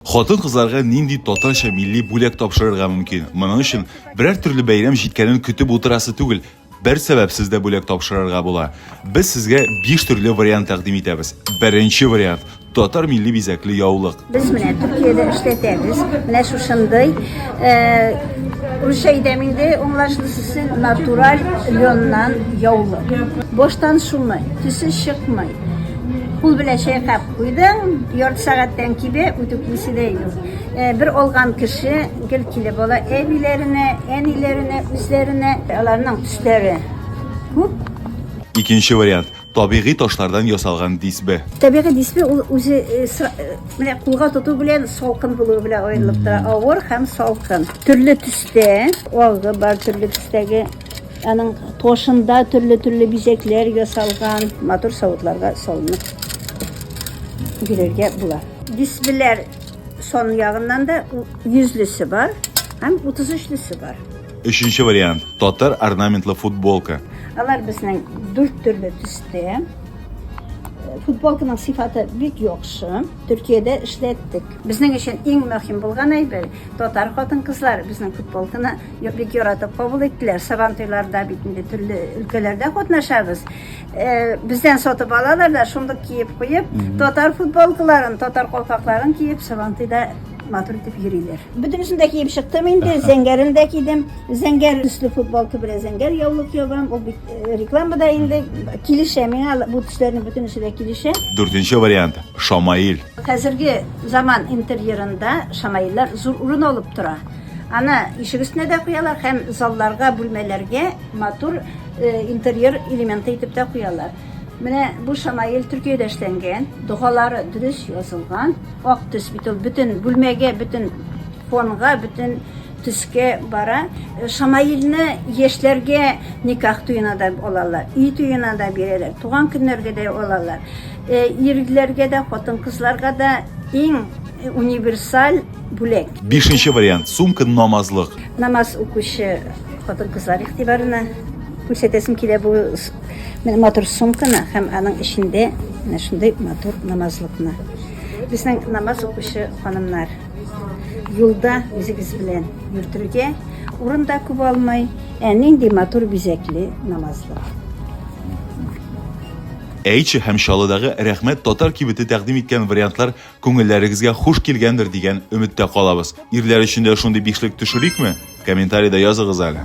Хатын-кызларга нинди татарча милли бүләк тапшырырга мөмкин? Моның өчен берәр төрле бәйрәм җиткәнен көтеп утырасы түгел, бер сәбәпсез дә бүләк тапшырырга була. Без сезгә биш төрле вариант тәкъдим итәбез. Беренче вариант, татар милли бизәкле яулык. Без менә Төркиядә эшләтәбез, менә шушындый, русча әйтәм инде, аңлашлысы, натураль лённан яулык. Баштан шумый, төсе чыкмый, кул белән чайкап. Уйдың ярты сәгатьтән кибә үтү килсә дә юк. Э, бер алган кеше гел килеп ала әбиләренә, әниләренә, үзләренә. Аларның төсләре күп. Икенче вариант, табигый ташлардан ясалган дисбе. Табигый дисбе ул үзе э, э, менә кулга тоту белән салкын булуы белән аерылып тора. Авыр һәм салкын. Төрле төстә, алгы бар төрле төстәге Аның тошында төрле-төрле бизәкләр ясалган, матур савытларга салынып бирергә була. Дисплейлар сон ягыннан да 100-лесе бар һәм 33-лесе бар. Өченче вариант, татар орнаментлы футболка. Алар безнең дүрт төрле төстә. Футболканың сыйфаты бик яхшы. Төркиядә эшләттек. Безнең өчен иң мөһим булган әйбер, татар хатын-кызлары безнең футболканы бик яратып кабул иттеләр. Сабантуйларда бит инде төрле өлкәләрдә катнашабыз. Бездән сатып алалар да, шундук киеп куеп, татар футболкаларын, татар калфакларын киеп, сабантуйда матур итеп йөриләр. Бөтенесен дә киеп чыктым инде, зәңгәрен дә кидем. Зәңгәр төсле футболка белән зәңгәр яулык ябам. Ул бит Э, рекламада инде килешә миңа бу төсләрнең бөтенесе дә килешә дүртенче вариант шамаил хәзерге заман интерьерында шамаиллар зур урын алып тора аны ишек өстенә дә куялар һәм залларга бүлмәләргә матур э, интерьер элементы итеп тә куялар менә бу шамаил төркиядә эшләнгән догалары дөрес язылган ак төс бит ул бөтен бүлмәгә бөтен фонга бөтен Төскә бара. Шамаилне яшьләргә никах туена да алалар, өй туена да бирәләр, туган көннәргә дә алалар. Ирләргә дә, хатын-кызларга да иң универсаль бүләк. Бишенче вариант, сумка намазлык. Намаз укучы хатын-кызлар игътибарына күрсәтәсем килә бу матур сумканы һәм аның эчендә менә шундый матур намазлыкны. Безнең намаз укучы ханымнар. Юлда үзегез белән йөртергә урын да күп алмый. Ә нинди матур бизәкле намазлык. Әйче һәм Чаллыдагы Рәхмәт татар кибете тәкъдим иткән вариантлар күңелләрегезгә хуш килгәндер дигән өметтә калабыз. Ирләр өчен дә шундый бишлек төшерикме? Комментарида языгыз әле.